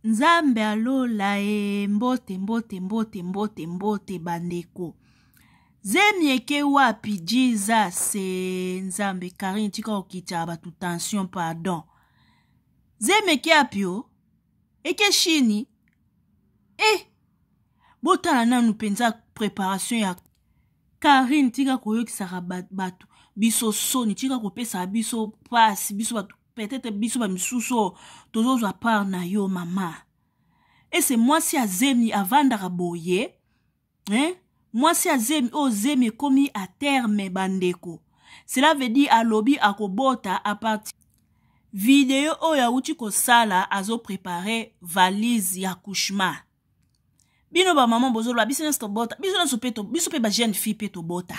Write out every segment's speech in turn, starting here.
nzambe ya lola e mbote mbote mbote mbote mbote bandeko zemi eke wapi jesus e nzambe karine tika kokitaka bato tension pardon zemi eke api o eke shini e eh, botala nanu mpenza préparation ya karine tika koyokisaka bato biso soni tika kopesaka biso mpasi biso bato peut-être biso ba misusu oyo tozozwa part na yo mama ese mwasi ya zemi avandaka boye hein? mwasi ya zemi oyo zemi ekomi a terme bandeko cela veut dire alobi akobota aparti video oyo awuti kosala azoprepare valise ya couchement bino bamama bozoloba biso nyonso tobota biso nyonso mpe biso mpe bajeune fille mpe tobota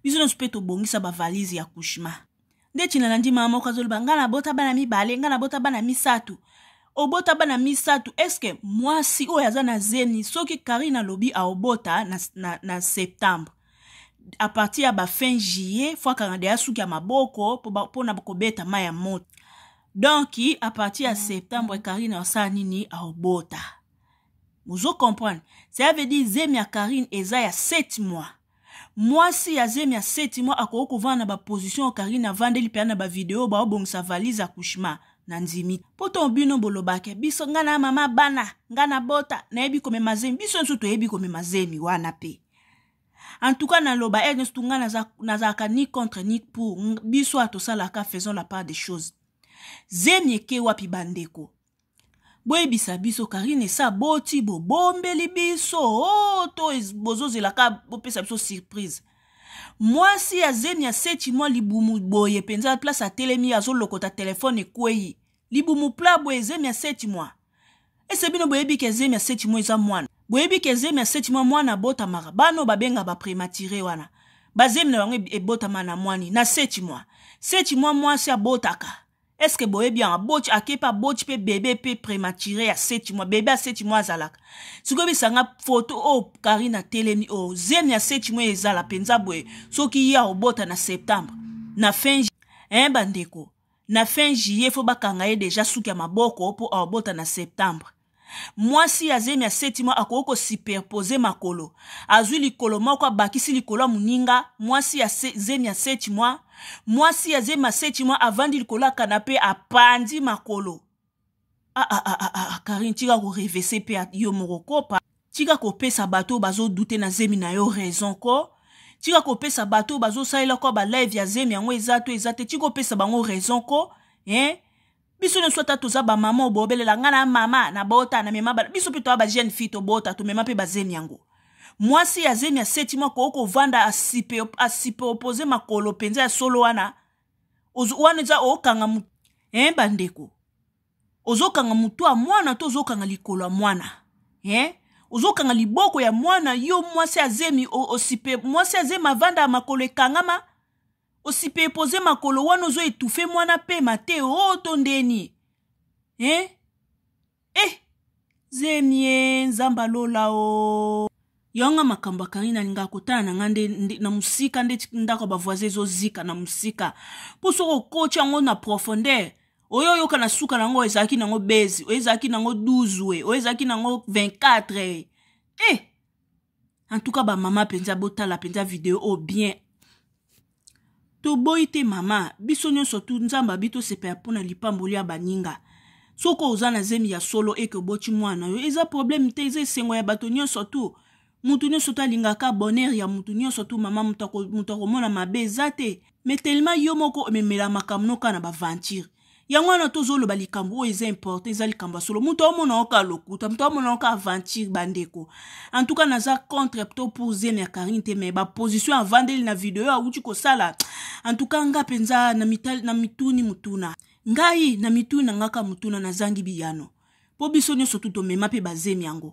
biso nyonso mpe tobongisa bavalise ya couchement nde tina na ndima moko azoloba ngai nabota bana mibale ngai nabota bana misato obota bana misato eske mwasi oyo aza na zemi soki karine alobi aobota na, na, na septembre a partir ya bafin juillet fo akanga deya suki ya maboko mpo na kobeta mai ya moto donk a partir ya septembre karine asala nini aobota bozo comprendre ça veut dire zemi ya karine eza ya 7 mois mwasi ya zemi ya seti mwa akoki kovanda na baposition oyo karine avandeli mpenza na bavideo baobongisa valise accouchement na ndimi mpo to bino bolobake biso ngai na mama bana ngai na bota nayebi komema zemi biso nyonso toyebi komema zemi wana mpe en tout cas naloba ete nyonso ngai nazalaka ni contre ni pour biso atosalaka faisons la part des choses zemi eke wapi bandeko boyebisa biso karine esi aboti bobombeli biso o oh, to bozozela ka bopesa biso surprise mwasi ya zemi ya seti mwa libumu boye mpenza place atelemi azolokota telefone ekwei libumu pla boye zemi ya seti mwa ese bino boyebi ke zemi ya seti mwa eza mwana boyebi ke zemi ya seti mwa mwana abotamaka bano babenga baprematire wana bazemi na bango ebotama na mwani na seti mwa seti mwa mwasi abotaka est-ce que boyebi yango aboci ake mpe aboci mpe bebe mpe prématuré ya seti mwa bebe ya seti mwa azalaka sikoyo bisanga foto oyo oh, karine atelemi oyo oh, zemi ya seti mwa ezala mpenza boye soki ye akobota na septembre na fin eh bandeko na fin juillet fo bakanga ye deja suki ya maboko mpo akobota na septembre mwasi ya zemi ya seti mwa akoki kosiperpose makolo azwi likolo moko abakisi likolo ya moninga mwasi ya se, zemi ya seti mwa mwasi ya zemi ya seti mwa avandi likolo ya kanape apanzi makolo ah, ah, ah, ah, ah, karine ah, tika korevese mpe yo moko kopa tika kopesa bato oyo bazodute na zemi na yo raison ko tika kopesa bato oyo bazosalela kwa balive ya zemi yango eza to eza te tika kopesa bango raison ko eh? biso nyonso ata toza bamama oyo bobelela ngai na mama nabota namema bana biso mpe toya bajeune fille tobota tomema mpe bazemi yango mwasi ya zemi ya seti mwa koki kovanda asipe, asipe opoze makolo mpenza ya solo wana wana eza okanga mu eh, bandeko ozokanga motu ya mwana to ozokanga likolo ya mwana eh? ozokanga liboko ya mwana yo mwasi ya zemi osipe mwasi ya zemi avanda ya makolo ekangama osipepoze makolo wana ozo etufe mwana pema te o oh, to ndeni eh? eh zemie nzambe alola o oh. yonga makambo ya karine alingaka kotala na ngai nde na mosika nde ndako ya bavoisin ezozika na mosika mpo soki okoti yango na profondeur oyo oyoka na suka na yango ezalaki nango bezi oyo ezalaki nango 12 oyo ezalaki nango 24 eh en tout cas ba mama mpenza botala mpenza video oyo bien toboyi te mama biso nyonso tu nzambe abi tosepela mpo na lipamboli ya baninga soki oza na zemi ya solo eke oboti mwana yo eza probleme te eza esengo ya bato nyonso tu moto nyonso to alingaka bonheur ya moto nyonso tu mama moto akomona mabe eza te mais tellement yo moko omemela makambo noka na baventure yango wana tozoloba likambo oyo eza important eza likambo ya solo moto aomona yo kaka lokuta moto aomona yo kaka aventure bandeko en tout cas naza contre to pour zemi ya karine te mais baposition ya vandeli na video awuti kosala en tout cas nga mpenza na, mitali, na mituni motuna ngai na mituni na ngaka motuna nazangi biyano mpo biso nyonso tu tomema mpe bazemi yango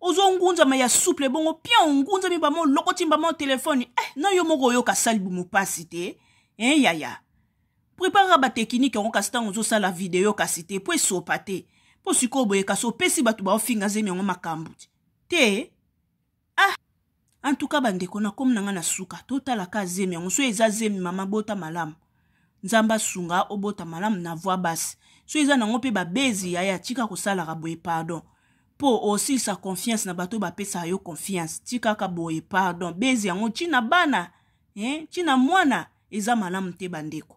ozo ngunzama ya souple bongo pion ngunzami bama olokoti mbama o telefone eh, na yo moko oyoka sali bomo mpasi te eh, yaya preparaka batekinike yango kasi ntango ozosala video kasi te mpo esopa te mpo sikoyo boye kasi opesi bato baofinga zemi yango makambo te ah En tout cas bandeko na komi na nga na suka totala ka zemi yango so eza zemi mama bota malamu nzambe asunga obota malamu na voix basse so eza nango mpe babezi yaya tika kosalaka boye pardon mpo osilisa confiance na bato bapesaka yo confiance tikaka boye pardon bezi yango ntina bana eh, ntina mwana eza malamu te bandeko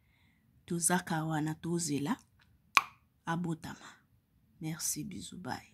tozaka wana tozela abotama merci bisous bye